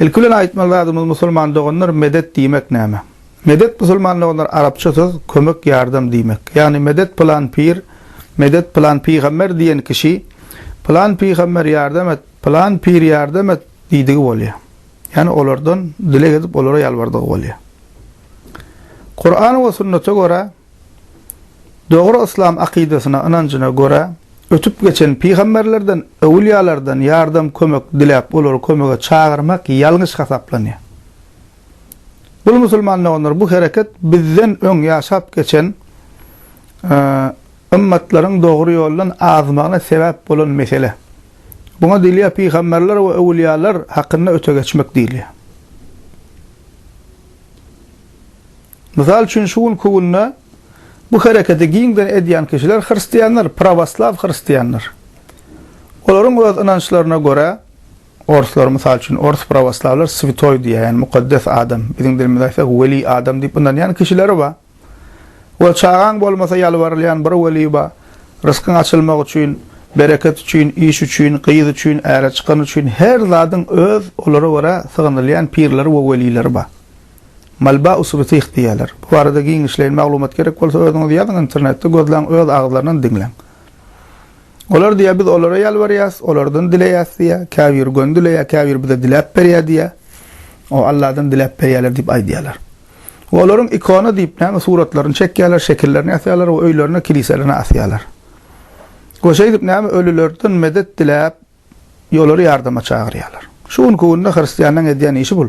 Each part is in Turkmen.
Ilki bilen aýtmaly zadymyz musulman doganlar medet diýmek näme? Medet musulman doganlar arapça söz kömek ýardam diýmek. Ýagny medet pylan pir, medet pylan pygamber diýen kişi pylan pygamber ýardam et, pylan pir ýardam et diýdigi bolýar. Ýagny olardan dileg edip olara ýalbardygy bolýar. Kur'an we sünnete görä Dogry yslam akydasyna, ynanjyna görä, ötüp geçen pygamberlerden, öwülýalardan ýardam, kömek diläp, olary kömege çagyrmak ýalňyş hasaplanýar. Bul musulman doganlar, bu hereket bizden öň ýaşap geçen ymmatlaryň dogry ýoldan azmagyna sebäp bolan mesele. Buňa diýilýär pygamberler we öwülýalar hakynda öte geçmek diýilýär. Mysal üçin, şu günki günde bu hereketi giňden edýän kişiler hristianlar, prawoslaw hristianlar. Olaryň öz ynançlaryna görä, orslar, mysal üçin, ors prawoslawlar switoý diýýär, ýagny mukaddes adam, biziň dilimizde aýtsak, weli adam diýip ynanýan kişileri bar. We çagaň bolmasa ýalbarylýan bir weli bar, ryskyň açylmagy üçin, bereket üçin, iş üçin, gyz üçin, äre çykany üçin, her zadyň öz, olara görä, sygynylýan pirleri we welileri bar. Malba usuly syh diýýärler. Bu barada giňişleýin maglumat gerek bolsa özüňiz ýazyň internetde gözläň öz agzlaryndan diňläň. Olar diýýär biz olara ýalbarýas, olardan dileýäs diýýär, käbiri göni dileýär, käbiri bize diläp berýär diýýär. O Alladan diläp berýärler diýip aýdýarlar. We olaryň ikona diýip näme suratlaryny çekýärler, şekillerini ýasaýarlar we öýlerine, kiliselerine asýarlar. We şeýdip näme ölülerden medet diläp, Ýolary ýardama çagyrýarlar. Şu günki günde hristianlaň edýän işi bul.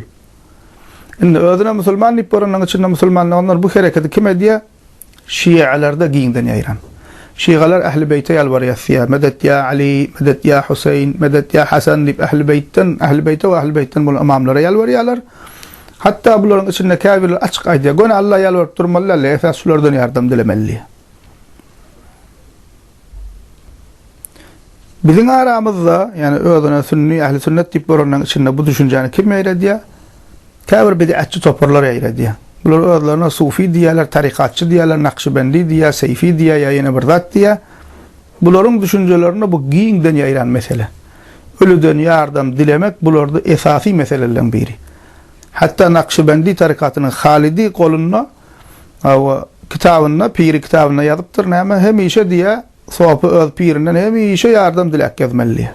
Indi özüne musulman diýip görenleň içinde musulmanlaganlar bu hereketi kim edýä? Şialarda giňden ýaýran. Şigalar Ähli beýte ýalbarýas diýä, Medet ýa Ali, medet ýa Huseýn, medet ýa Hasan diýip Ähli beýtden, Ähli beýte we Ähli beýtden bolan ymamlara ýalbarýarlar. Hatda bularyň içinde käbirleri açyk aýdýar, göni Alla ýalbaryp durmaly däldi, esas şulardan ýardam dilemeli diýä. Biziň aramyzda, ýagny özüne sünni, ähli sünnet diýip göreniň içinde bu düşünjäni kim ýaýradýar? Käbir bid'atçy toparlar ýaýradýar. Bular özlerine sufi diýýärler, tarykatçy diýýärler, nakşybendi diýýär, seýfi diýýär ýa ýene bir zat diýýär. Bularyň düşünjelerinde bu giňden ýaýran mesele. Ölüden ýardam dilemek bularda esasy meseleleň biri. Hatda nakşybendi tarykatynyň halydy golunda Hawa, kitabynda, piri kitabynda ýazypdyr, näme, hemişe diýýär, sopy öz pirinden hemişe ýardam diläp gezmeli diýýär.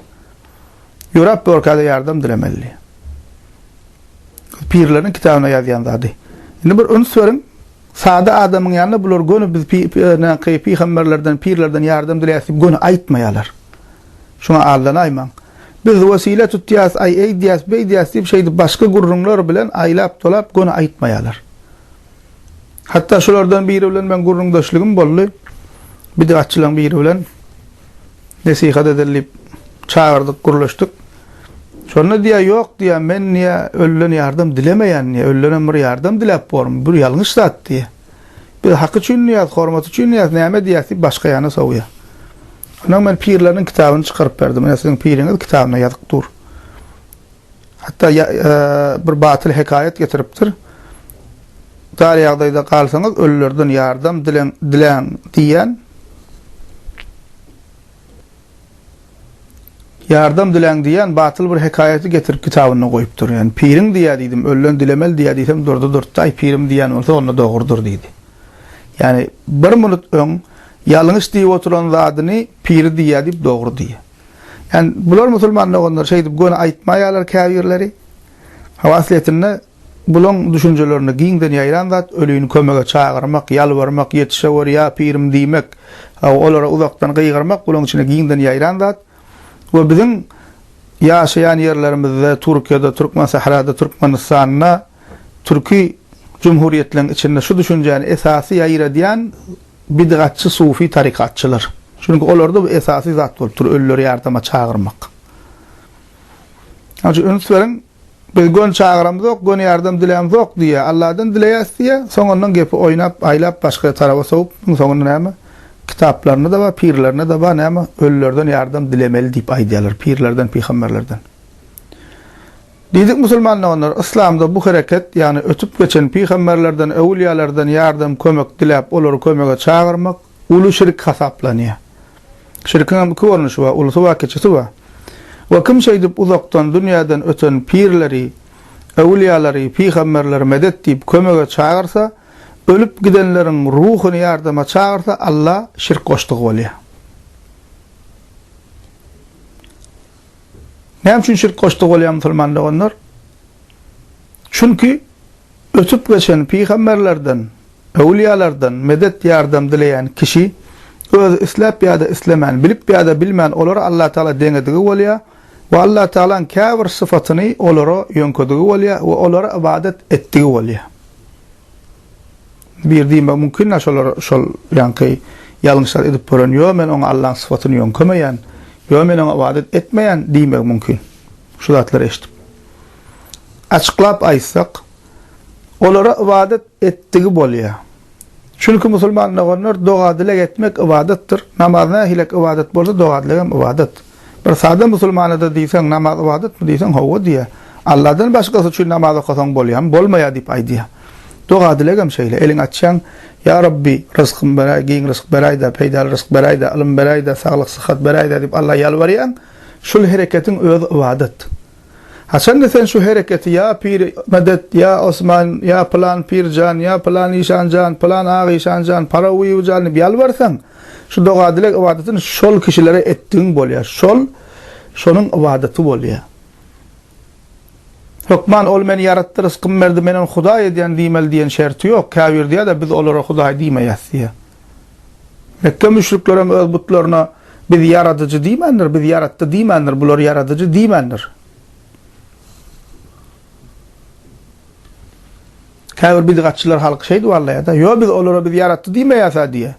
Ýöräp borka-da ýardam dilemeli diýýär. Pirleriň kitabynda ýazýan zady. Indi bir üns beriň, sada adamyň ýanyna bular göni biz pi-pi-pi-pi-pi-pygamberlerden, pirlerden ýardam dileýäs diýip göni aýtmaýarlar. Şoňa aldanaýmaň. Biz wesile tutýas, aý eýdýäs, beýdýäs diýip şeýdip başga gürrüňler bilen aýlap-dolap göni aýtmaýarlar. Hatda şulardan biri bilen meň gürrüňdeşligim boldy. Bidatçylaryň biri bilen nesihat edeli diýip çagyrdyk, gürleşdik. Şonda diýýär, ýok diýýär, men diýýär, ölüden ýardam dilemeýän diýýär, ölüden bir ýardam diläp bormy, bu ýalňyş zat diýýär. Biz hak üçin diýýäs, hormat üçin diýýäs, näme diýýäs diýip başga ýana sowýar. Ondan men pirleriniň kitabyny çykaryp berdim. Ine siziň piriňiz kitabynda ýazyk dur. Hatda e, bir batyl hekaýat getiripdir. Dar ýagdaýda galsaňyz ölülerden ýardam dileň, dileň diýýän Ýardam diläň diýýän batyl bir hekaýaty getirip kitabynda goýupdyr. Ýöne piriň diýýä diýdim, ölüden dilemeli diýýä diýsem durdy durtdy, aý pirim diýýän bolsa onda dogrudyr diýdi. Ýani bir minut öň ýalňyş diýip oturan zadyny piri diýýä diýip dogry diýýä. Ýani bular musulman doganlar şeýdip göni aýtmaýalar käbirleri. Hawa aslyýetinde Bulaň düşünjelerinde giňden ýaýran zat ölini kömege çagyrmak, ýalbarmak, ýetişeweri ýa pirim diýmek, olara uzakdan gygyrmak bulaň içinde giňden ýaýran zat we biziň ýaşaýan ýerlerimizde Türkiýede, Türkmensährada, Türkmenistanda, Türki Jumhuriýetleriň içinde şu düşünjäni esasy ýaýradýan bidgatçy sufi tarykatçylar. Çünki olarda bu esasy zat bolup dur ölüleri ýardama çagyrmak. Şoň üçin üns beriň. Biz göni çagyramzok, göni ýardam dilämzok diýýär. Alladan dileýäs diýýär. Soň ondan gepi oýnap, aýlap başga taraba sowup, munuň soňunda näme? Kitaplarynda-da bar, pirlerinde-de bar, näme? Ölülerden ýardam dilemeli diýip aýdýarlar, pirlerden, pygamberlerden. Diýdik musulmanda onlara, yslamda bu hereket, ýagny ötüp geçen pygamberlerden, öwülýalardan ýardam, kömek diläp, olary kömege çagyrmak, uly şirk hasaplanýar. Şirkiň hem iki görnüşi bar, ulusy bar, kiçisi bar. We kim şeýdip uzakdan dünýäden öten pirleri, äwliýalary, pygamberleri medet diýip kömege çagyrsa, ölüp gidenleriň ruhuny ýardama çagyrsa, Alla şirk goşdugy bolýar. Näme üçin şirk goşdugy bolýar musulman doganlar? Çünki Ötüp geçen pygamberlerden, öwlüýalardan medet-ýardam dileýän kişi özi isläp ýa-da islemän, bilip ýa-da bilmän olary Allatagala deňedigi bolýar we Allatagalaň käbir sypatyny olara ýöňkedigi bolýar we olara ybadat etdigi bolýar. Bir diýmek mümkin-dä şolar şol ýaňky ýalňyşlary edip gören, ýo men oňa Allaň sypatyny ýöňkemeýän, ýo men oňa ybadat etmeýän diýmegi mümkin şu zatlary eşidip. Açyklap aýtsak, olara ybadat etdigi bolýar. Çünki musulman doganlar doga-dileg etmek ybadatdyr. Namaz nähilek ybadat bolsa, doga-dilegem ybadat. Bir sada musulmana-da diýseň, Namaz ybadatmy? diýseň, Hawa diýýär. Alladan başgasy üçin namaz okasaň bolýarmy? Bolmaýar diýip aýdýar. Doga-dilegem şeýle. Eliňi açýaň, Ýa Rabbi, ryzkym beräý, giň ryzk beräý-dä, peýdaly ryzk beräý-dä, ylym beräý-dä, saglyk-syhat beräý-dä diýip Alla ýalbarýaň. Şul hereketiň özi ybadat. Haçanda sen şu hereketi ýa pir medet, ýa Osman, ýa pylan pir jan, ýa pylan işan jan, pylan ak işan jan, Parawiýew jan diýip ýalbarsaň, şu doga-dileg ybadatyny şol kişilere etdigiň bolýar. Şol şonuň ybadaty bolýar. Hökman ol meni ýaratdy, ryskymy berdi, men ony Hudaý edýän diýmeli diýen şerti ýok. Käbir diýýär-de, biz olara Hudaý diýmeýäs diýýär. Mekge müşrikleri hem öz butlaryna, Biz Ýaradyjy diýmändir, Biz ýaratdy diýmändir, bular Ýaradyjy diýmändir. Käbir bidgatçylar halky şeýdip aldaýar-da, Ýo, biz olara Biz ýaratdy diýmeýäs-ä diýýär.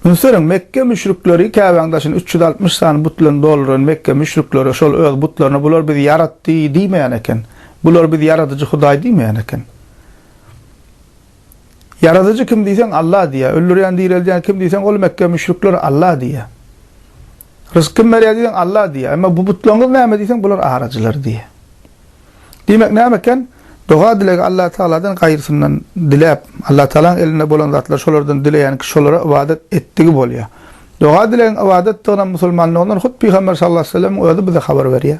Ünsberiň, Mekge müşrikleri Käbäň daşyny üç ýüz altmyş sany but bilen dolduran Mekge müşrikleri şol öz butlaryna bular Biz ýaratdy diýmeýän eken. Bular Biz Ýaradyjy Hudaý diýmeýän eken. Ýaradyjy kim diýseň Alla diýýär. Öldürýän direldýän kim diýseň ol Mekge müşrikleri Alla diýýär. Rysk kim berýär diýseň Alla diýýär. Emma bu butlaryňyz näme diýseň bular aracylar diýýär. Diýmek näme eken? Doga dilegi Alla Tagaladan gaýrysyndan diläp, Alla Tagalaň elinde bolan zatlar şolardan dileýän kişi şolara ybadat etdigi bolýar. Doga dilegiň ybadatdygynam musulmandygyndan hut Pygamber sallallahu aleyhi ve sellem'iň özi bize habar berýär.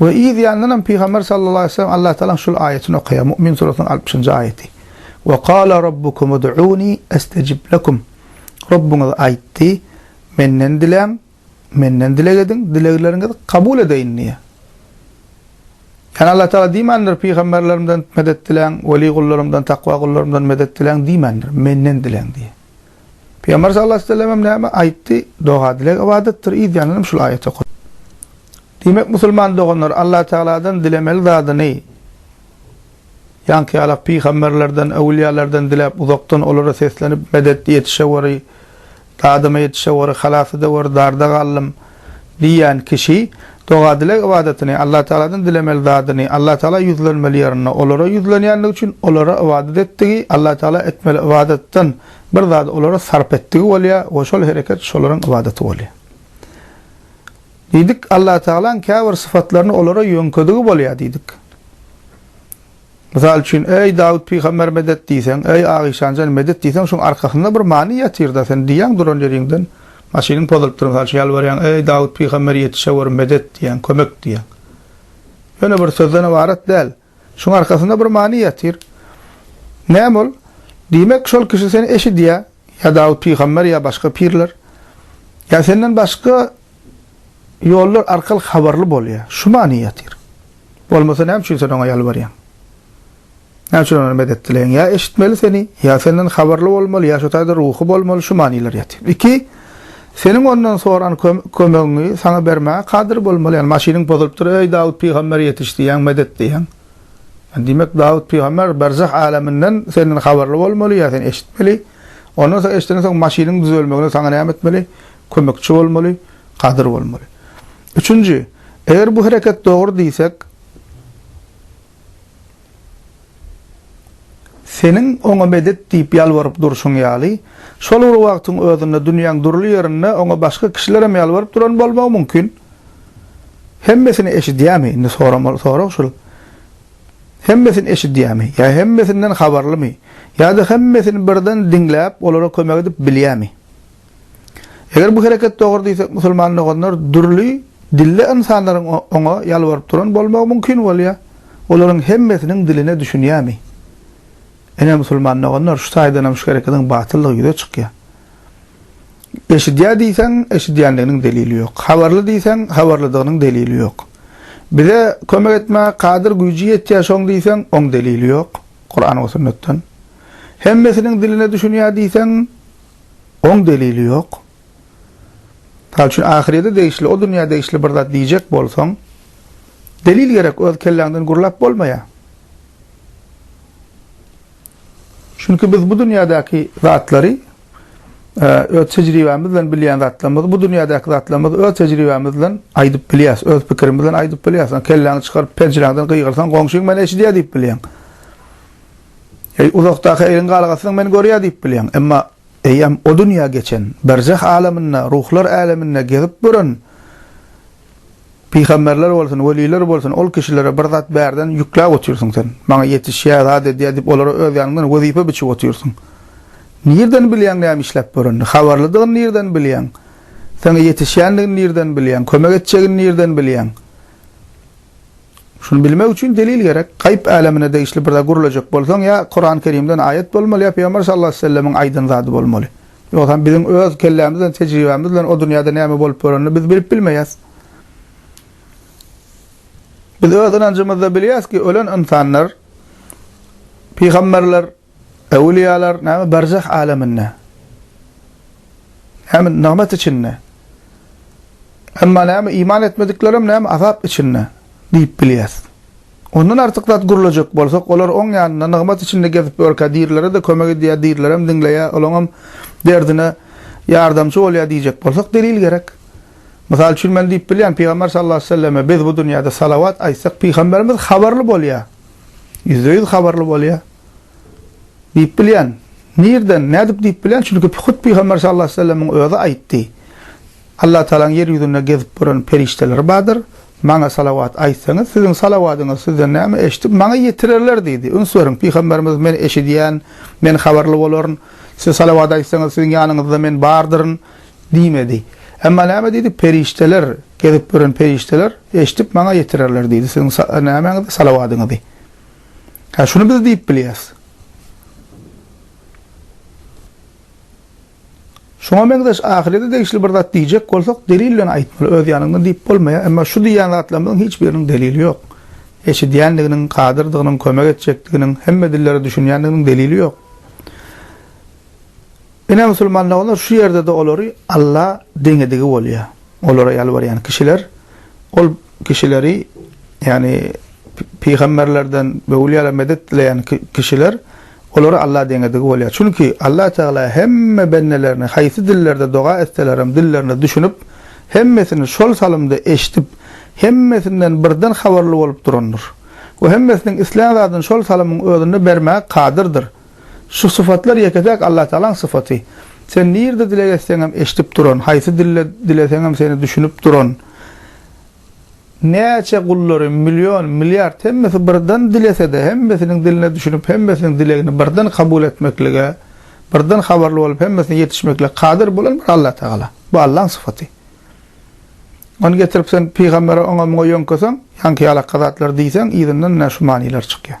We yz ýandan hem Pygamber sallallahu aleýhi we sellem Allah Tagalaň şul aýatyny okaýar, Mu'min surasynyň altmyşynjy aýaty, We kâle Rabbukum ud'ûni estecib lekum, Rabbyňyz aýtdy, Menden diläň, Menden dileg ediň, dilegleriňizi kabul edeýin diýýär. Ýani Allah Tagala diýmändir, Pygamberlerimden medet diläň, weli gullarymdan, takwa gullarymdan medet diläň diýmändir, Menden diläň diýýär. Pygamber sallallahu aleýhi we sellem hem näme aýtdy? Doga, dileg ybadatdyr, yzýandan hem şul aýaty okady. Diýmek, musulman doganlar Allah Tagaladan dilemeli zadyny ýaňky ýalak pygamberlerden, öwülýalardan diläp, uzakdan olara seslenip, Medet, ýetişeweri, dadyma ýetişeweri, halas edeweri, darda galdym, diýýän kişi doga-dileg ybadatyny, Allatagaladan dilemeli zadyny, Allatagala ýüzlenmeli ýerinde olara ýüzlenýändigi üçin olara ybadat etdigi, Allatagala etmeli ybadatdan bir zady olara sarp etdigi bolýar we şol hereket şolaryň ybadaty bolýar. Diýdik, Allatagalaň käbir sypatlaryny olara ýöňkedigi bolýar diýdik. Mysal üçin, Eý, Dawut pygamber medet diýseň, Eý, Agyşan jan medet diýseň, şoň arkasynda bir many ýatyr-da, sen diýýäň duran ýeriňden, maşynyň pozulypdyr, mysal üçin, ýalbarýaň, Eý, Dawut pygamber ýetişewür, medet diýýäň, kömek diýýäň. Ýöne bir sözden ybarat däl. Şoň arkasynda bir many ýatyr. Näme ol? Diýmek, şol kişi seni eşidýär, ýa Dawut pygamber, ýa başga pirler, ýa senden başga ýollar arkaly habarly bolýar. Şu many ýatyr. Bolmasa näme üçin sen oňa ýalbarýaň? Näme üçin ondan medet dileýäň? Ýa eşitmeli seni, ýa senden habarly bolmaly, ýa şo taýda ruhy bolmaly, şu manylar ýatyr. Iki, seniň ondan soran kömegiňi saňa bermäge kadyr bolmaly. Ýagny maşynyň bozulypdyr, eý Dawut pygamber ýetiş diýýäň, medet diýýäň. Diýmek Dawut pygamber berzah äleminden senden habarly bolmaly, ýa sen eşitmeli. Ondan soň eşitenden soň maşynyň düzelmegine saňa näme etmeli? Kömekçi bolmaly, kadyr bolmaly. Üçünji, eger bu hereket dogry diýsek, seniň oňa medet diýip ýalbaryp durşuň ýaly, şol bir wagtyň özünde dünýäň dürli ýerinde oňa başga kişilerem ýalbaryp duran bolmagy mümkin. Hemmesini eşidýärmi? Indi soramaly sorag şul. Hemmesini eşidýärmi? Ýa hemmesinden habarlymy? Ýa-da hemmesini birden diňläp, olara kömek edip bilýärmi? Eger bu hereket dogry diýsek musulman doganlar dürli dilli ynsanlaryň oňa ýalbaryp duran bolmagy mümkin bolýa. Olaryň hemmesiniň diline düşünýämi? Ine musulman doganlar şu taýdanam şu hereketiň batyldygy ýüze çykýa. Eşidýä diýseň eşidýändiginiň delili ýok. Habarly diýseň habarlydygynyň delili ýok. Bize kömek etmä kadyr güýji ýetýä şoň diýseň oň delili ýok. Kuran we sünnetden. Hemmesiniň diline düşünýä diýseň Oň delili ýok. Mysal üçin ahyrýete degişli, o dünýä degişli bir zat diýjek bolsaň, delil gerek, öz kelläňden gürläp bolmaýar. Çünki biz bu dünýädäki zatlary öz tejribämiz bilen bilýän zatlarymyzy, bu dünýädäki zatlarymyzy öz tejribämiz bilen aýdyp bilýäs, öz pikirimiz bilen aýdyp bilýäs. Kelläňi çykaryp penjiräňden gygyrsaň, goňşyň meni eşidýär diýip bilýäň. Eý, uzakdaky eýiň galgasynyň men görýär diýip bilýäň. Emma eýýäm o dünýä geçen, berzeh alamynda, ruhlar äleminde gezip gören pygamberler bolsun, weliler bolsun, ol kişilere bir zat bärden ýükläp otyrsyň sen. Maňa ýetişýär, zat edýär diýip olara öz ýanyňdan wezipe biçip otyrsyň. Nirden bilýäň näme işläp görenini? Habarlydygyny nirden bilýäň? Saňa ýetişýändigini nirden bilýäň? Kömek etjegini nirden bilýäň? Şuny bilmek üçin delil gerek. Gaýyp älemine degişli bir zat gürlejek bolsaň, ýa Kurany Kerimden aýat bolmaly, ýa Pygamber sallallahu aleýhi we sellemiň aýdan zady bolmaly. Ýogsam biziň öz kellämiz bilen, tejribämiz bilen o dünýäde näme bolup görenini biz bilip bilmeýäs. Biz öz ynanjymyzda bilýäris ki, ölen ynsanlar, pygamberler Öwlüýalar näme berzah äleminde. Näme nygmat içinde. Emma näme iman etmediklerem näme azap içinde diýip bilýäs. Ondan artyk zat gürlejek bolsak, olar oň ýanynda nygmat içinde gezip ýörkä dirilere-de kömek edýär, dirilerem diňleýär, olaňam derdine ýardamçy bolýar diýjek bolsak delil gerek. Mysal üçin men diýip bilýän Pygamber sallallahu aleyhi ve selleme biz bu dünýäde salawat aýtsak Pygamberimiz habarly bolýar. Ýüzde ýüz habarly bolýar. Diýip bilýän. Nirden, nädip diýip bilýän, çünki hut Pygamber sallallahu aleýhi we sellemiň özi aýtdy. Allah Tagalaň ýer ýüzünde gezip gören perişdeleri bardyr. Maňa salawat aýtsaňyz, siziň salawadyňyzy sizden näme eşidip, maňa ýetirerler diýdi. Üns beriň, Pygamberimiz men eşidýän, men habarly bolaryn. Siz salawat aýtsaňyz, siziň ýanyňyzda men bardyryn. Diýmedi. Emma näme diýdi? Perişdeler, gezip ýören perişdeler eşidip maňa ýetirerler diýdi siziň nämäňizi, salawadyňyzy. Hä, şuny biz diýip bilýäs. Şuňa meňzeş ahyrete degişli bir zat diýjek bolsak, delil bilen aýtmaly, öz ýanyňdan diýip bolmaýar. Emma şu diýýän zatlarymyzyň hiç biriniň delili ýok. Eşidýändiginiň, kadyrdygynyň, kömek etjekdiginiň, hemme dillere düşünýändiginiň delili ýok. Ine, musulman doganlar, şu ýerde-de olary Alla deňedigi bolýar. Olara ýalbarýan kişiler, ol kişileri, ýagny pygamberlerden we ulyýadan medet dileýän kişiler, olary Alla deňedigi bolýar. Çünki Alla Tagala hemme bendelerini haýsy dillerde doga etselerem dillerine düşünip, hemmesini şol salymda eşidip, hemmesinden birden habarly bolup durandyr. We hemmesiniň islän zadyny şol salymyň özünde bermäge kadyrdyr. Şu sypatlar ýeke-täk Allatagalaň sypaty. Sen nirde dileg etseňem eşdip duran, haýsy dilde dileseňem seni düşünip duran, näçe gullary, million, milliard hemmesi birden dilesede hemmesiniň diline düşünip hemmesiniň dilegini birden kabul etmeklige, birden habarly bolup hemmesine ýetişmeklige kadyr bolan bir Allatagala. Bu Allaň sypaty. Ony getirip sen pygambere oňa-muňa ýöňkeseň, ýaňky ýalakka zatlar diýseň yzyndan ine şu manylar çykýar.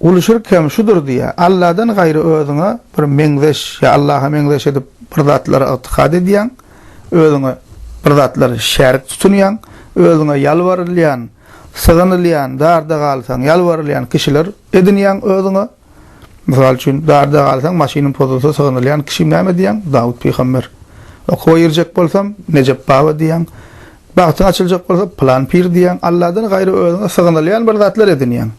Uly şirk hem şudur diýýär. Alladan gaýry özüňe bir meňzeş ýa Allaha meňzeş edip bir zatlary ygtykad edýäň, özüňe bir zatlary şärik tutunýaň, özüňe ýalbarylýan, sygynylýan, darda galsaň ýalbarylýan kişiler edinýäň özüňe. Mysal üçin, darda galsaň, maşynym pozulsa sygynylýan kişim näme diýýäň? Dawut pygamber. Okuwa girjek bolsam, Nejep baba diýýäň. Bagtyň açyljak bolsa, pylan pir diýýäň. Alladan gaýry özüňe sygynylýan bir zatlar edinýäň.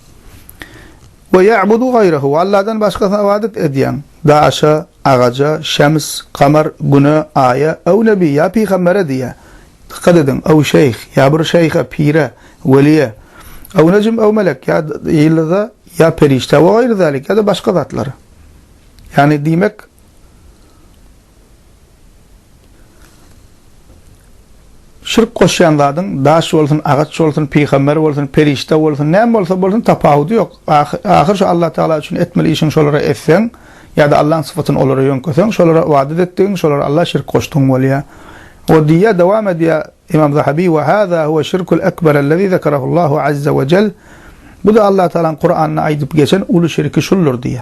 We ýa'budu gaýrahu, Allahdan başgasyna ybadat edýän, daşa, agaja, şems, kamar, güne, aýa, ew nebi, ýa pygambere, diýýär. Dykgat ediň, ew şeýh, ýa bir şeýhe, pire, weliýe, ew nejm, ew melek, ýa ýyldyza, ýa perişdä, we gaýry zälik, ýa-da başga zatlara. Ýagny, diýmek, Şirk goşýan zadyň daş bolsun, agaç bolsun, pygamber bolsun, perişde bolsun, näme bolsa bolsun tapawudy ýok. Ahyr şu Allah Tagala üçin etmeli işiň şolara etseň, ýa-da Allaň sypatyny olara ýöňkeseň, şolara ybadat etdigiň, şolara Alla şirk goşdygyň bolýar. O diýýär, dowam edýär Imam Zahabi, Wa haza huwa şirkul ekber allazi zekerahullahu azza wa jell. Bu-da Allah Tagalaň Kuranda aýdyp geçen uly şirki şuldur diýýär.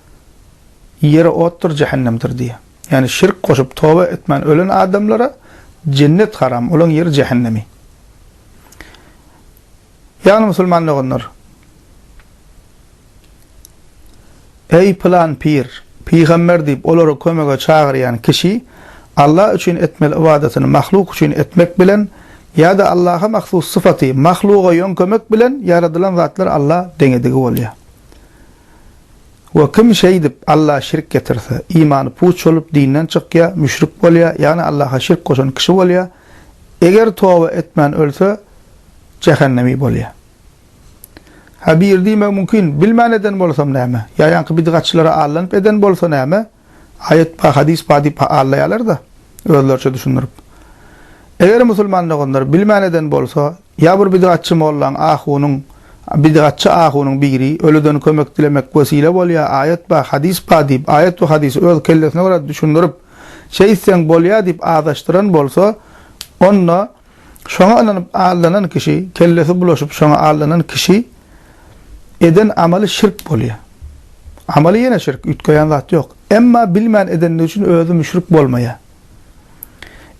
Ýeri otdur, jähennemdir diýýär. Ýagny şirk goşup, toba etmän ölen adamlara jennet haram, olaň ýeri jähennemi. Ýagny musulman doganlar, Eý pylan pir, pygamber diýip olary kömege çagyrýan kişi Allah üçin etmeli ybadatyny mahluk üçin etmek bilen ýa-da Allaha mahsus syfaty mahluga ýöňkemek bilen ýaradylan zatlar Allah deňedigi bolýar. We kim şeýdip, Allaha şirk getirse, imany puç bolup, dinden çykýar, müşrik bolýar, ýagny Allaha şirk goşan kişi bolýar, eger toba etmän ölse, jähennemi bolýar. Ha biri diýmegi mümkin, Bilmän eden bolsam näme? Ýa ýaňky bidgatçylara allanyp eden bolsa näme? Aýat bar, hadys bar diýip allaýarlar-da, özleriçe düşündirip. Eger musulman doganlar bilmän eden bolsa, Ýa bir bidgatçy mollaň, ahunyň, bidgatçy ahunyň biri, ölüden kömek dilemek wesile bolýar, aýat bar, hadys bar diýip, aýat we hadysy öz kellesine görä düşündirip, şeýtseň bolýar diýip azaşdyran bolsa, onda şoňa ynanyp aldanan kişi, kellesi bulaşyp şoňa aldanan kişi eden amaly şirk bolýar. Amaly ýene şirk, üýtgeýän zat ýok. Emma bilmän edeni üçin özi müşrik bolmaýar.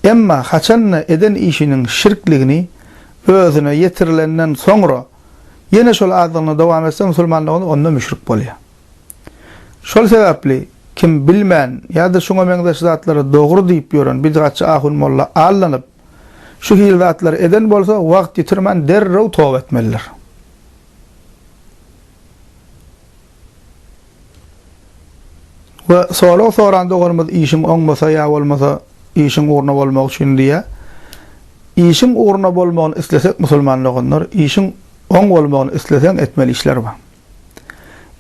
Emma haçan-da eden işiniň şirkligini özüne ýetirilenden soňra ýene şol azdygyna dowam etse musulmanlygyny onda müşrik bolýar. Şol sebäpli kim bilmän ýa-da şuňa meňzeş zatlary dogry diýip ýören bidgatçy ahun molla allanyp şu hili zatlary eden bolsa wagt ýitirmän derrew toba etmelidir. We sorag soran doganymyz işiň oňmasa ýa bolmasa işiň ugruna bolmagy üçin diýýär. Işiň ugruna bolmagyny islesek musulman doganlar, işiň oň bolmagyny isleseň etmeli işler bar.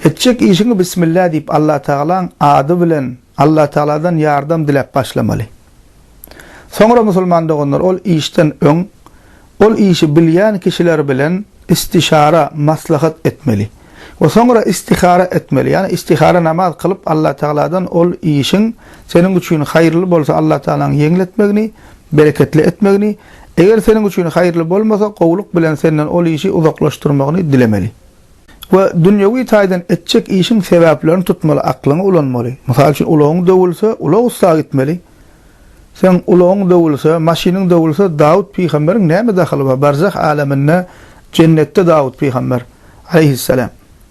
Etjek işiňi bismillah diýip Allatagalaň ady bilen Allatagaladan ýardam diläp başlamaly. Soňra musulman doganlar ol işden öň ol işi bilýän kişiler bilen istişara, maslahat, etmeli we soňra istihara etmeli, ýagny istihara namaz kylyp Allatagaladan ol işiň seniň üçin haýyrly bolsa Allatagalaň ýeňil etmegini, bereketli etmegini, eger seniň üçin haýyrly bolmasa gowulyk bilen senden ol işi uzaklaşdyrmagyny dilemeli. We dünýewi taýdan etjek işiň sebäplerini tutmaly, aklyňy ulanmaly. Mysal üçin, ulagyň döwülse, ulag ussady gitmeli. Seň ulagyň döwülse, maşynyň döwülse, Dawut pygamberiň näme dahyly bar? Barzah äleminde, Jennetde Dawut pygamber, aleýhisselam.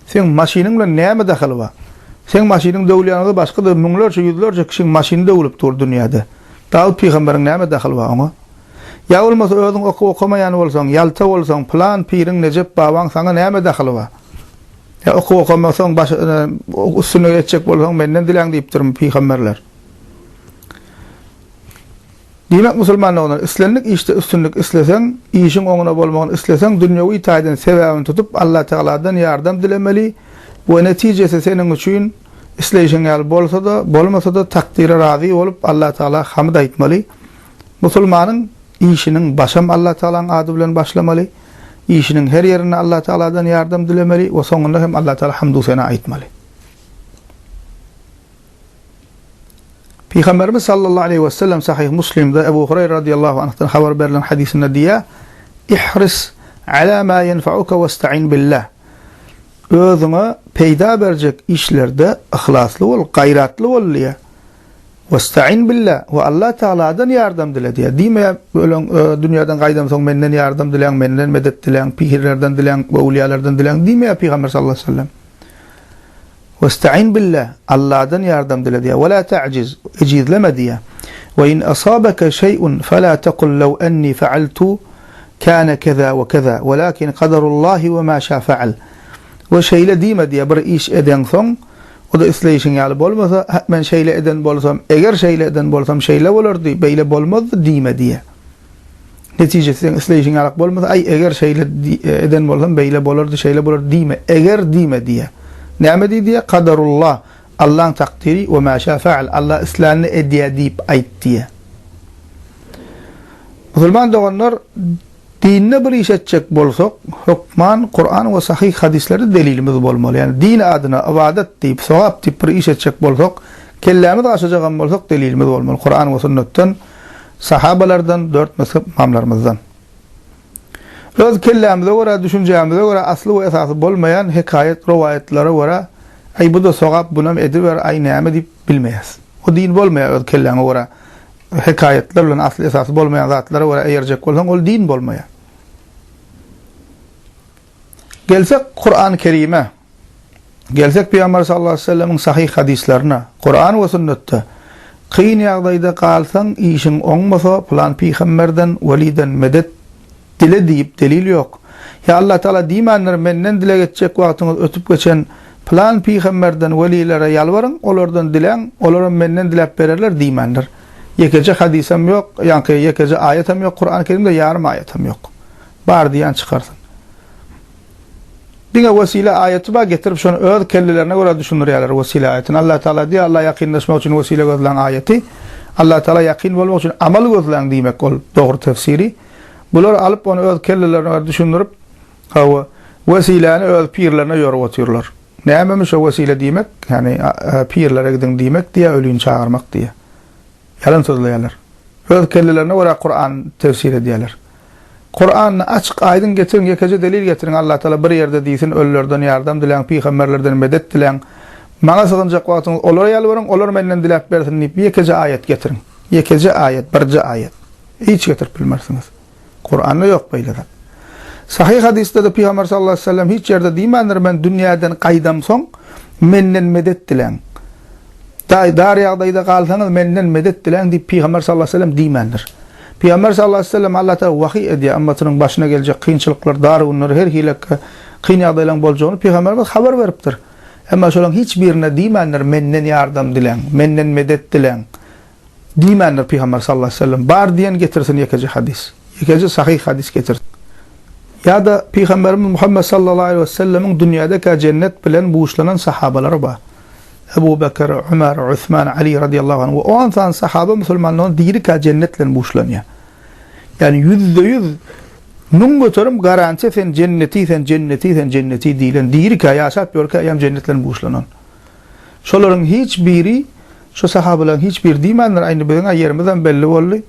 Seň maşynyň bilen näme dahyly bar? Seň maşynyň döwülýänini başga-da müňlerçe, ýüzlerçe kişiň maşyny döwülip dur dünýäde. Dawut pygamberiň näme dahyly bar oňa? Ýa bolmasa özüň okuw okamaýan bolsaň, ýalta bolsaň, pylan piriň, nejep babaň saňa näme dahyly bar? Ýa okuw okamasaň, baş, üstünlik etjek bolsaň menden diläň diýipdirmi pygamberler? Diýmek musulman doganylar, islendik işde üstünlik isleseň, işiň oňuna bolmagyny isleseň, dünýewi taýdan sebäbini tutup Allatagaladan ýardam dilemeli we netijesi seniň üçin isleýşiň ýaly bolsa-da, bolmasa-da takdyra razy bolup Allatagala hamd aýtmaly. Musulmanyň işiniň başam Allatagalaň ady bilen başlamaly, işiniň her ýerinde Allatagaladan ýardam dilemeli we soňunda hem Allatagala hamdu-sena aýtmaly. Pygamberimiz sallallahu aleýhi wesellem Sahyh Muslimde Ebu Hureýre radyýallahu anhdan habar berlen hadysynda diýýär, Ihris ala ma ýenfauka westa'in billah. Özüňe peýda berjek işlerde yhlasly bol, gaýratly bol diýýär. Westaîn billa, we Allah Tagaladan ýardam dile diýýär. Diýmeýär, Öleň, dünýäden gaýdan soň menden ýardam diläň, menden medet diläň, pihirlerden diläň, öwlüýalardan diläň diýmeýär Pygamber sallallahu aleýhi we sellem. Westaîn billa, Allahdan ýardam dile diýýär. Wela ta'jiz, ejizleme diýýär. Ve in asabeke şeý'un fela tekul lew enni fe'altu kana keza we keza, welakin kaderullahi ve ma şa fe'al. We şeýle diýme diýýär, bir iş edeňsoň, O-da isleýşiň ýaly bolmasa, Hä, men şeýle eden bolsam, eger şeýle eden bolsam, şeýle bolardy, beýle bolmazdy diýme diýýär. Netijesi seň isleýşiň ýalak bolmasa, Aý, eger şeýle eden bolsam, beýle bolardy, şeýle bolardy diýme, eger diýme diýýär. Näme diý diýýär? Kadarullah, Allaň takdyry, we mä şä fa'al, Allah islänini edýär diýip aýt diýýär. Musulman doganlar! Dinde bir iş etjek bolsak, hökman Kuran we sahyh hadyslary delilimiz bolmaly. Ýagny din adyna ybadat diýip, sogap diýip bir iş etjek bolsak, kellämiz gaşajagam bolsak delilimiz bolmaly Kuran we sünnetden, sahabalardan, dört mezhep ymamlarymyzdan. Öz kellämize görä, düşünjämize görä asly we esasy bolmaýan hekaýat, rowaýatlara görä, Aý bu-da sogap, bunam ediber, aý näme diýip bilmeýäs. O din bolmaýar öz kelläňe görä Hekaýatlar bilen asly-esasy bolmaýan zatlara görä eýerjek bolsaň, ol din bolmaýar. Gelsek Kur'an-ı Kerime, gelsek Peygamber sallallahu aleyhi ve sellemin sahih hadislerine, Kur'an ve sünnette, kyn yagdayda kalsan, işin onmasa, plan peygamberden, veliden medet Dile diýip delil ýok. Ýa Allatagala diýmändir, menden dileg etjek wagtyňyz ötüp geçen pylan pygamberden, welilere ýalbaryň, olardan diläň, olaram menden diläp bererler diýmändir. Ýekeje hadysam ýok, ýaňky ýekeje aýatam ýok Kurany Kerimde, ýarym aýatam ýok. Bar diýen çykarsyn. Diňe wesile aýaty bar, getirip şony öz kellelerine görä düşündirýärler wesile aýatyny. Allatagala diýýär, Alla ýakynlaşmak üçin wesile gözläň aýaty. Allatagala ýakyn bolmak üçin amal gözläň diýmek ol dogry tefsiri. Bular alyp ony öz kellelerine görä düşündirip, hawa, wesiläni öz pirlerine ýorüp otyrlar. Nämemiş o wesile diýmek, ýagny pirlere gidiň diýmek diýýä, ölini çagyrmak diýýä. Ýalan sözleýärler. Öz kellelerine görä Kuran tefsir edýärler. Kurany açyk aýdyň getiriň, ýekeje delil getiriň, Allatagala bir ýerde diýsin, ölülerden ýardam diläň, pygamberlerden medet diläň. Maňa sygynjak wagtyňyz olara ýalbaryň, olar menden diläp bersin diýip ýekeje aýat getiriň. Ýekeje aýat, birje aýat. Hiç getirip bilmersiňiz. Kuranda ýok beýle zat. Sahyh hadysda-da Pygamber sallallahu aleýhi we sellem hiç ýerde diýmändir, Men dünýäden gaýdamsoň, menden medet diläň. Daýy dar ýagdaýda galsaňyz, menden medet diläň diýip Pygamber sallallahu aleýhi we sellem diýmändir. Pygamber sallallahu aleýhi we sellem Allah tagala wahyý edýär, ymmatynyň başyna geljek kynçylyklar, dar günler, her hili kyn ýagdaýlaryň boljagyny Pygamberimiz habar beripdir. Emma şolaryň hiç birine diýmändir, Menden ýardam diläň, menden medet diläň. Diýmändir Pygamber sallallahu aleýhi we sellem, Bar diýen getirsin ýekeje hadys, ýekeje sahyh hadys getirsin. Ýa-da Pygamberimiz Muhammet sallallahu aleýhi we sellemiň dünýädekä jennet bilen buşlanan sahabalary bar. Ebu Bekr, Ömer, Usman, Ali radiyallahu anh we on sany sahaba musulmanlygyň dirikä jennet bilen buşlanýar. Ýagny ýüzde ýüz, müň göterim garantiýa sen jenneti, sen jenneti, sen jenneti diýlen, dirikä, ýaşap ýörkä eýýäm jennet bilen buşlanan. Şolaryň hiç biri, şu sahabalaryň hiç biri diýmändir, a indi biziň-ä ýerimizem belli boldy.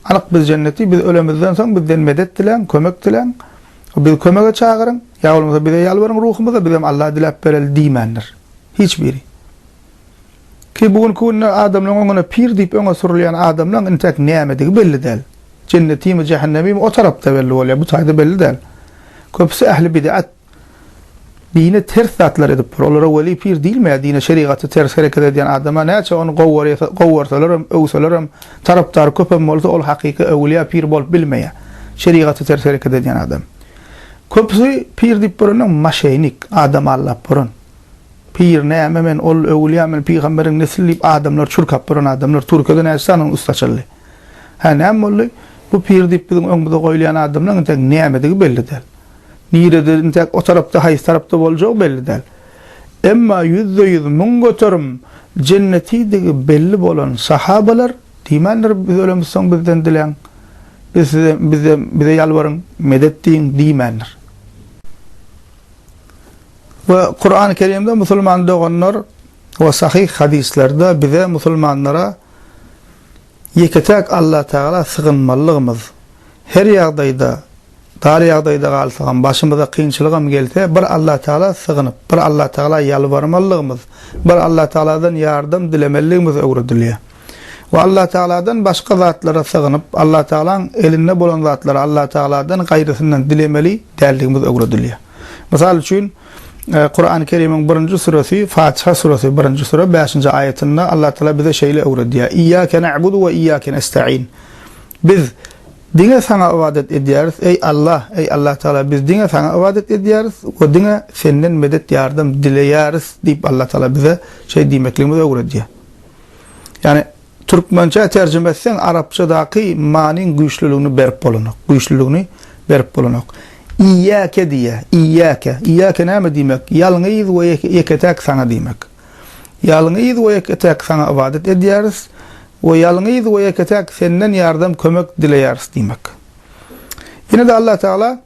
Anyk biz jenneti, biz ölemizden soň bizden medet diläň, kömek diläň, bizi kömege çagyryň, ýa bolmasa bize ýalbaryň ruhumyza, bizem Alla diläp bereli diýmändir. Hiç biri. Ki bu günki günde adamlaryň öňüne pir diýip öňe sürülýän adamlaň intäk nämedigi belli däl. Jennetimi, jähennemimi o tarapda belli bolýar, bu taýda belli däl. Köpüsi ähli bid'at. Dine ters zatlar edip bir olara weli pir diýilmeýär dine şerigaty ters hereket edýän adama näçe ony gowarsalarem öwselerem tarapdary köpem bolsa ol hakyky öwülýä pir bolup bilmeýär şerigaty ters hereket edýän adam köpüsi pir diýip borandan maşeýnik adam aldap boran pir näme men ol öwülýä men pygamberiň nesli diýip adamlar çurkap boran adamlar türkiýede näçe sanyň üsti açyldy hä näme boldy bu pir diýip biziň öňümize goýulýan adamlaň entek nämedigi belli däl. Nirede, intäk o tarapda, haýsy tarapda boljagy belli däl. Emma ýüzde-ýüz, müň göterim jennetidigi belli bolan sahabalar diýmändir, Biz ölemizsoň bizden diläň, biz size, bize, bize ýalbaryň, medet diýiň diýmändir. We Kurany Kerimde musulman doganlar we sahyh hadyslarda bize, musulmanlara, Ýeke-täk Allatagala sygynmalygymyz, her ýagdaýda, dar ýagdaýda galsagam, başymyza kynçylygam gelse, bir Allatagala sygynyp, bir Allatagala ýalbarmalygymyz, bir Allatagaladan ýardam dilemeligimiz öwredilýär. We Allatagaladan başga zatlara sygynyp, Allatagalaň elinde bolan zatlary Allatagaladan gaýrysyndan dilemeli däldigimiz öwredilýär. Mysal üçin, Kurany Kerimiň birinji suresi Fatiha suresi birinji sure bäşinji aýatynda Allah Taala bize şeýle öwredýär. Iyyake na'budu we iyyake nesta'in. Biz diňe saňa ybadat edýäris, eý Allah, eý Allah Taala biz diňe saňa ybadat edýäris we diňe senden medet ýardam dileýäris diýip Allah Taala bize şeý diýmekligimizi öwredýär. Ýani Türkmençä terjime etseň arapçadaky manyň güýçliligini berip bolanok, güýçliligini berip bolanok. Iýýäke diýýä, iýýäke. Iýýäke näme diýmek? Ýalňyz we ýeke-täk saňa diýmek. Ýalňyz we ýeke-täk saňa ybadat edýäris we ýalňyz we ýeke-täk senden ýardam, kömek dileýäris diýmek. Ýene-de Allatagala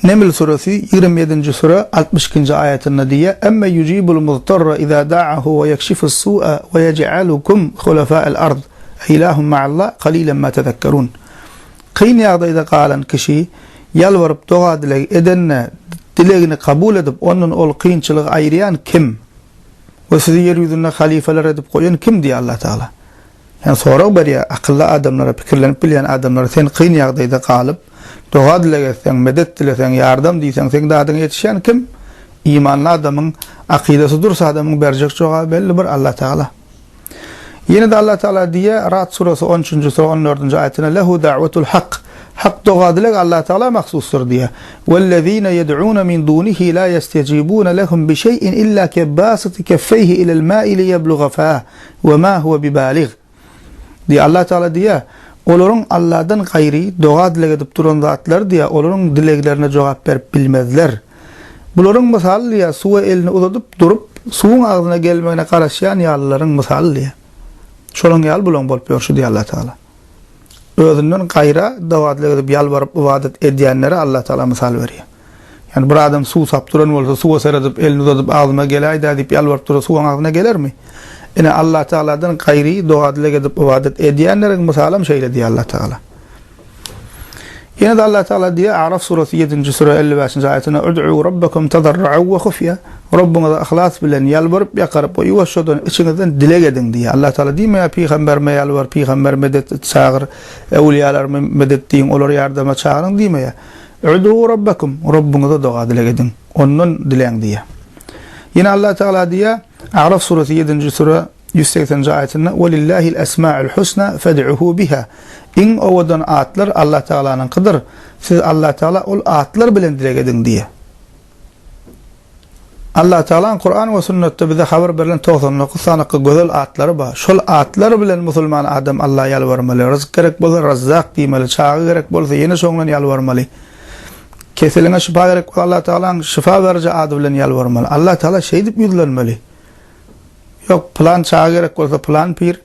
Neml suresi ýigrimi ýedinji süre altmyş ikinji aýatynda diýýär, Emme yujibul muztarra iza da'ahu we yekşifus su'a we yej'alukum hulafa'al ard e ilahum ma'allah qalilan ma tezekkerun Kyn ýagdaýda galan kişi ýalbaryp doga-dileg edende dilegini kabul edip ondan ol kynçylygy aýyrýan kim we sizi ýer ýüzünde halifeler edip goýan kim diýýär Allatagala. Ýa sorag berýär, akylly adamlara, pikirlenip bilýän adamlara sen kyn ýagdaýda galyp, doga-dileg etseň, medet dileseň, ýardam diýseň, seň dadyňa ýetişýän kim? Imanly adamyň, akydasy durs adamyň berjek jogaby belli bir Allatagala. Ýene-de Allatagala diýýär, Ra'd surasy on üçünji sura on dördünji aýatynda, Lehu da'wetul hak, hak doga-dileg Allatagala mahsusdyr diýýär, Wellezine yed'une min dunihi la yestejibune lehum bi şeý'in illa kebasiti keffeýhi ilel ma'i liýebluga fah, Ve ma huve bibaligh. Diýýär, Allah Teala diýýär, Olaryň Allahdan gaýry doga-dileg edip duran zatlary diýýär, olaryň dileglerine jogap berip bilmezler. Bularyň mysaly diýýär, suwa elini uzadyp durup, suwuň agzyna gelmegine garaşýan ýalylaryň mysaly diýýär. Şolaň ýaly bulaň bolup ýörşi diýýär Allah Teala. Özünden gaýra doga-dileg edip, ýalbaryp, ybadat edýänlere Allah Teala mysal berýär. Ýani bir adam suwsap duran bolsa suwa seredip elini uzadyp agzyma geläýdä diýip ýalbaryp dursa suw oň agzyna gelermi? Ine Allah Tagaladan gaýry doga dileg edip ybadat edýänleriň mysaly hem şeýle diýýär Allah Tagala. Ýene-de Allah Tagala diýýär A'raf surasy ýedinji süre elli bäşinji aýatynda Ud'u Rabbakum tazarru'a we hufýa Rabbyňyza yhlas bilen ýalbaryp ýakaryp we ýuwaşjadan içiňizden dileg ediň diýýär. Allah Tagala diýmeýär pygamberime ýalbar pygamber medet et çagyr, äwliýalarmy medet diýiň olary ýardama çagyryň diýmeýär. Udu Rabbakum, Rabbyňyza doga-dileg ediň, Ondan diläň diýýär. Ýene Allah Tagala diýýär, A'raf suresi ýedinji süre ýüz segsenji aýatynda, Welillahil esmaul husna fed'uhu biha, Iň owadan atlar Allah Tagalanyňkydyr, siz Allah Tagala ol atlar bilen dileg ediň diýýär. Allatagalaň Kuran we Sünnetde bize habar berlen togsan dokuz sanaky gözel atlary bar. Şol atlar bilen musulman adam Alla ýalbarmaly. Ryzyk gerek bolsa Razzak diýmeli, çaga gerek bolsa ýene şoň bilen ýalbarmaly. Keseliňe şypa gerek bolsa Allatagalaň şypa beriji ady bilen ýalbarmaly. Allatagala şeýdip ýüzlenmeli. Ýok, pylan çaga gerek bolsa pylan pir,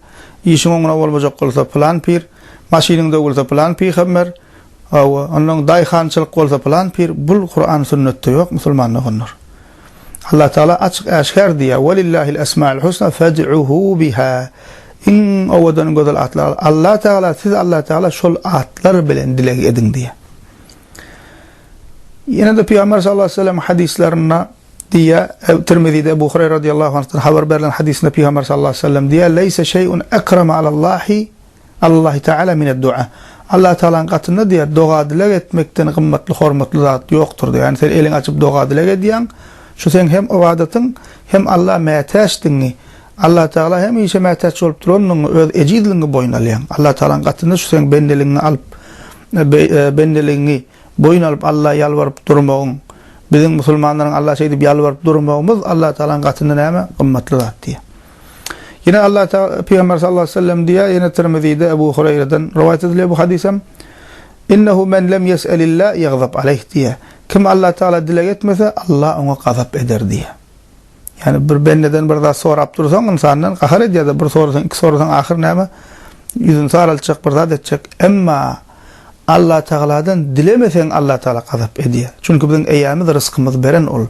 işiň oňuna bolmajak bolsa pylan pir, maşynyň döwülse pylan pygamber, Hawa, onnoň daýhançylyk bolsa pylan pir bul Kuran sünnetde ýok musulman doganlar. Allah Taala açyk äşgär diýýär, Welillahil esmaül husna fed'uhu biha. Iň owadan gözel atlar Allah Taala siz Allah Taala şol atlar bilen dileg ediň diýýär. Ýene-de Pygamber sallallahu aleyhi ve sellem hadyslarynda diýýär, Ebu Tirmizide Ebu Hureyre radiyallahu anhdan habar berlen hadysynda Pygamber sallallahu aleyhi ve sellem diýýär, Leyse şey'un ekrama alallahi Allahi Teala mine dua. Allahi Tealanyň gatynda diýer, doga-dileg etmekden gymmatly, hormatly zat ýokdur diýer. Ýagny sen eliňi açyp doga-dileg edýäň, şu seň hem ybadatyň, hem Allaha mätäçdigiňi, Allahi Teala hemişe mätäç bolup durandygyňy, öz ejizligiňi boýun alýaň. Allahi Tealanyň gatynda şu seň bendeligiňi alyp, bendeligiňi boýun alyp Allaha ýalbaryp durmagyň, biziň musulmanlaryň Allaha şeýdip ýalbaryp durmagymyz Allahi Tealanyň gatynda näme? Gymmatly zat diýer. Ýene Allah Taala Pygamber sallallahu aleýhi we sellem diýýär, ýene Tirmizide Ebu Hureýreden rowaýat edilýär bu hadys hem. Innehu men lem ýes'elillah ýagzab aleýh diýýär. Kim Allah Taala dileg etmese, Allah oňa gazap eder diýýär. Ýani bir bendeden bir zat sorap dursaň ynsandan gahar edýär-de, bir sorasaň, iki sorasaň ahyr näme? Ýüzüni saraltjak, bir zat etjek. Emma Allah Taaladan dilemeseň Allah Taala gazap edýär. Çünki biziň eýämiz, ryzkymyz beren ol.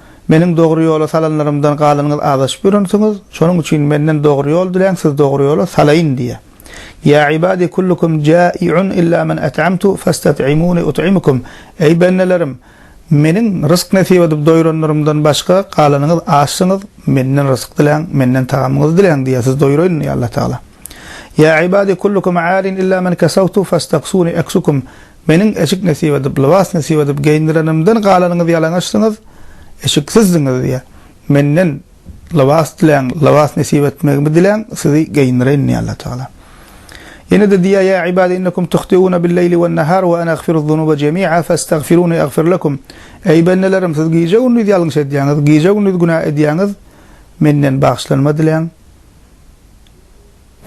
Meniň dogry ýola salanlarymdan galanyňyz azaşyp ýörensiňiz, şonuň üçin Menden dogry ýol diläň, Sizi dogry ýola salaýyn diýýär. Ýa ibadi kullukum jai'un illa men at'amtu fastat'imuni ut'imukum, Eý bendelerim! Meniň rysk nesip edip doýranlarymdan başga galanyňyz açsyňyz, Menden ryzyk diläň, Menden tagamyňyzy diläň diýýär, Sizi doýraýyn diýýär Allatagala. Ýa ibadi kullukum 'arin illa men kasawtu fastaksuni aksukum, Meniň eşik nesip edip, lybas nesip edip geýindirenimden galanyňyzy ýalaňaçdyňyz, eşiksizdiňiz diýýär. Menden lybas diläň, lybas nesip etmegimi diläň, sizi geýindireýin diýýär Allatagala. Ýene-de diýýär, Ýa ibadi innekum tuhtiuna bil-leýli wen-nahar we ene agfiru'z-zunuba jemi'a fastagfiruni agfir lekum. Eý bendelerim, siz gije-gündiz ýalňyş edýäňiz, gije-gündiz günä edýäňiz, menden bagyşlanma diläň.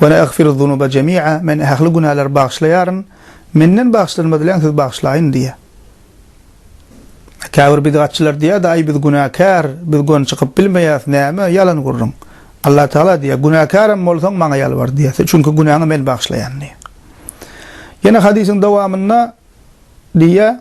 Wene agfiru zunuba jemi'a, Men ähli günälär bagyşlaýaryn, Menden bagyşlanma diläň siz bagyşlaýyn diýýär. Käbir bidgatçylar diýýär-de, Aý biz günäkär, biz gön çykyp bilmeýäs, näme, ýalan gürrüň. Allah Tagala diýýär, Günäkärem bolsaň Maňa ýalbar diýýär, çünki günäňi Men bagyşlaýan diýýär. Ýene hadysyň dowamynda diýýär.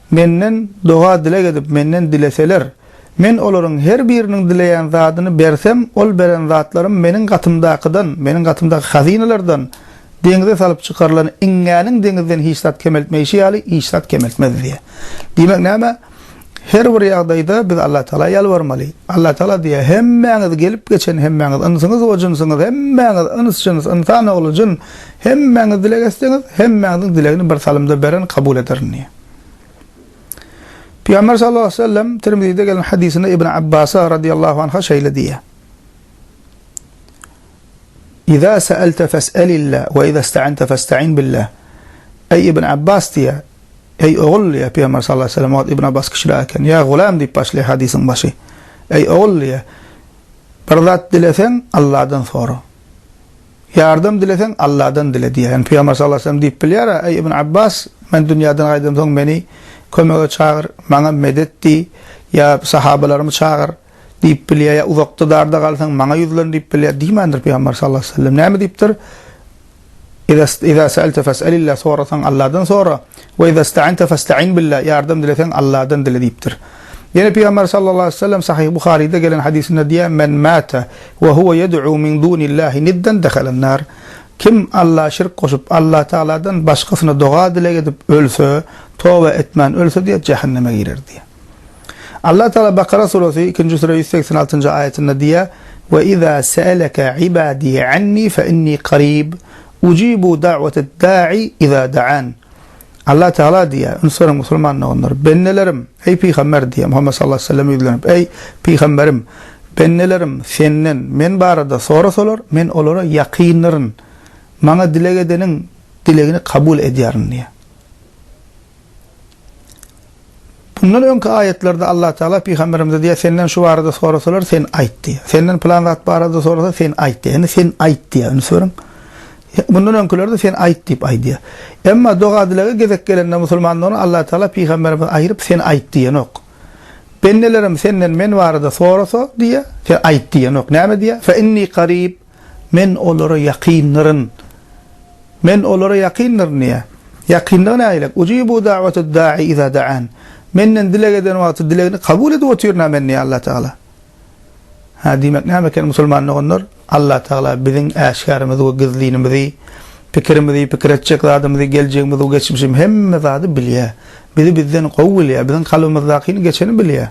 Menden doga-dileg edip, Menden dileseler, Men olaryň her biriniň dileýän zadyny bersem, ol beren zatlarym Meniň gatymdakydan, Meniň gatymdaky hazynalardan, deňze salyp çykarylan iňňäniň deňizden hiç zat kemeltmeýşi ýaly, hiç zat kemeltmez diýýär. Diýmek näme? Her bir ýagdaýda biz Allatagala ýalbarmaly. Allatagala diýýär, Hemmäňiz gelip geçen, hemmäňiz ynsyňyz we jynsyňyz, hemmäňiz yns-jyns, ynsan ogly, jyn, Hemmäňiz dileg etseňiz, hemmäňiziň dilegini bir salymda beren kabul ederin diýýär. Pygamber sallallahu aleýhi we sellem Tirmizide gelen hadysynda Ibn Abbasa radiyallahu anha şeýle diýýär. Iza sa'alta fas'alillah we iza ista'anta fasta'in billah. Ey Ibn Abbas diýýär. Ey ogul diýýär Pygamber sallallahu aleýhi we sellem Ibn Abbas kişiler eken. Ya gulam diýip başlaýar hadysyň başy. Ey ogul diýýär. Bir zat dileseň Allahdan sora. Ýardam dileseň, Alladan dile diýýär. Ýagny Pygamber sallallahu aleýhi we sellem diýip bilýär-ä, Eý, Ibn Abbas, men dünýäden gaýdamsoň meni kömege çagyr, maňa medet diý, ýa sahabalarymy çagyr diýip bilýär, ýa uzakda-darda galsaň, maňa ýüzlen diýip bilýär. Diýmändir Pygamber sallallahu aleýhi we sellem. Näme diýipdir? Iza sa'alte fes'alillah, sorasaň Alladan sora, we iza sta'ente festa'in billah, ýardam dileseň Alladan dile diýipdir. Ýene Pygamber sallallahu aleýhi we sellem Sahyh Buharyda gelen hadysynda diýýär, Men mata we huwa yed'u min dunillahi niddan dehalan nar, Kim Alla şirk goşup, Alla Tagaladan başgasyna doga-dileg edip ölse, toba etmän ölse diýýär, jähenneme girer diýýär. Alla Tagala Bakara suresi ikinji süre ýüz segsen altynjy aýatynda diýýär, Ve iza se'eleke ibadi anni fe inni qarib, ucibu da'watad-da'i iza da'an. Allah Tagala diýýär, Üns beriň musulman doganlar! Bendelerim! Eý, pygamber! diýýär Muhammet sallallahu aleýhi we selleme ýüzlenip, Eý, pygamberim! Bendelerim Senden, men barada sorasalar, men olara ýakyndyryn. Maňa dileg edeniň dilegini kabul edýärin diýýär. Mundan öňki aýatlarda Allatagala pygamberimize diýýär, Senden şu barada sorasalar, sen aýt diýýär. Senden pylan zat barada sorasa, sen aýt diýýär. Indi sen aýt diýýär, üns beriň. Mundan öňkülerde sen aýt diýip aýdýar. Emma doga-dilege gezek gelende musulmanlardan Allatagala pygamberimizi aýryp sen aýt diýenok. Bendelerim senden men barada sorasa diýýär, sen aýt diýenok. Näme diýýär? Fe inni karib. Men olara ýakyndyryn. Men olara ýakyndyryn diýýär. Ýakyndygy nägilek? Ujibu da'watad da'i iza da'an. Menden dileg eden wagty dilegini kabul edip otyryn-a men diýýär Allatagala. Hä, diýmek näme eken musulman doganlar? Allatagala biziň äşgärimizi we gizlinimizi, pikirimizi, pikir etjek zadymyzy, geljegimizi we geçmişimizi, hemme zady bilýär. Bizi bizden gowy bilýär, biziň kalbymyzdakyny geçeni bilýär.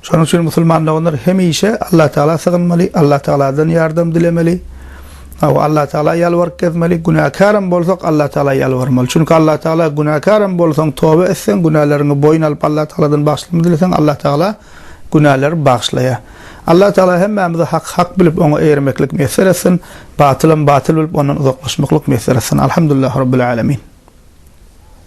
Şonuň üçin musulman doganlar hemişe Allatagala sygynmaly, Allatagaladan ýardam dilemeli, hawa, Allatagala ýalbaryp gezmeli, günäkäram bolsak Allatagala ýalbarmaly. Çünki Allatagala günäkäram bolsaň toba etseň, günäleriňi boýun alyp Allatagaladan bagşylma dileseň Allatagala günäleri bagyşlaýar. Allatagala hemmämize haky hak bilip oňa eýermeklik miýesser etsin, batylam batyl bilip ondan uzaklaşmaklyk miýesser etsin. Alhamdulillah Rabbil Alamin.